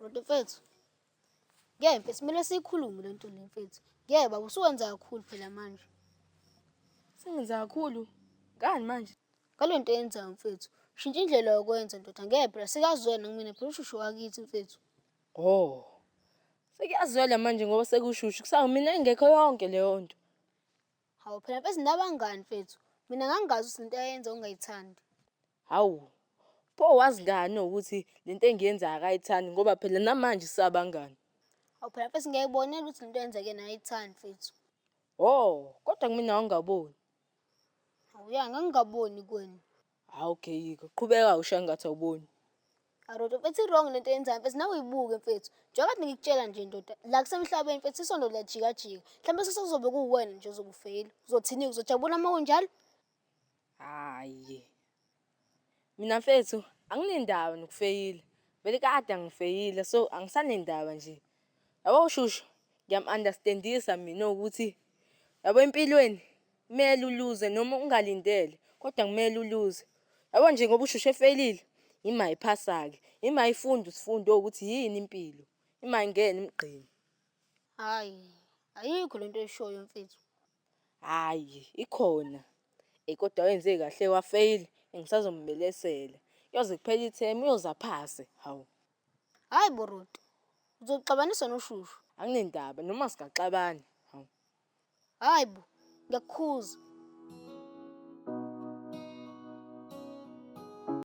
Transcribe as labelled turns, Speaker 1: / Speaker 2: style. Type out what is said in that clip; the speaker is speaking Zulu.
Speaker 1: Bhuti mfethu, ngeke mfethu kumele siyikhulume le nto le mfethu. Ngeke baba usuwenza kakhulu phela manje.
Speaker 2: Sengenza kakhulu. Ngani manje? Ngale nto oyenzayo
Speaker 1: mfethu. Shintsha indlela yokwenza ndoda ngeke phela sikazwene kumina phela ushushu wakithi mfethu. Hhoo!
Speaker 2: Sekuyazwela manje ngoba sekushushu, kusawuthi mina ingekho yonke leyo nto. Hawu phela
Speaker 1: bezinto abangani mfethu. Mina ngangingazi ukuthi lento ayenza ungayithandi. Hawu,
Speaker 2: pho wazi ngani ukuthi le nto engiyenzayo akayithandi ngoba phela namanje sisabangani? Hawu phela mfethu
Speaker 1: ngiyayibonela ukuthi lento oyenza kuyena ayithandi mfethu. Hhoo!
Speaker 2: Kodwa kumina wawungaboni.
Speaker 1: Awuya ngangingaboni kwenu. Hawu okay
Speaker 2: yiko. Qhubeka ushaye ngathi awuboni. Aroto
Speaker 1: mfethu i-wrong lento yenzayo mfethu nawe uyibuke mfethu. Njengoba kade ngikutshela nje ndoda la kusemhlabeni mfethu isondo liyajika jika. Mhlawumbe sese kuzobe kuwuwena nje ozokufeyila. Uzothini-ke uzojabula uma kunjalo?
Speaker 2: Hhayi. Mina mfethu anginendaba nokufeyila, vele kade angifeyila so angisanendaba nje. Yabo shushu ngiyamu-understand-isa mina ukuthi yabo empilweni kumele uluze noma ungalindele kodwa kumele uluze. Yabo nje ngoba ushushu efeyilile yimi ayiphasa-ke, yimi ayifunda isifundo ukuthi yini impilo, yimi ayingene emgqeni. Hhayi
Speaker 1: ayikho le nto oyishoyo mfethu. Hhayi
Speaker 2: ikhona eyi kodwa wenze kahle wafeyila ngisazombelesela. Kuyoze kuphele ithemu uyoze aphase, hawu. Hhayi bo
Speaker 1: Ruth, uzoxabanisa noshushu. Anginendaba
Speaker 2: noma
Speaker 1: singaxabana,
Speaker 2: hawu. Hhayi bo, ngiyakukhuza.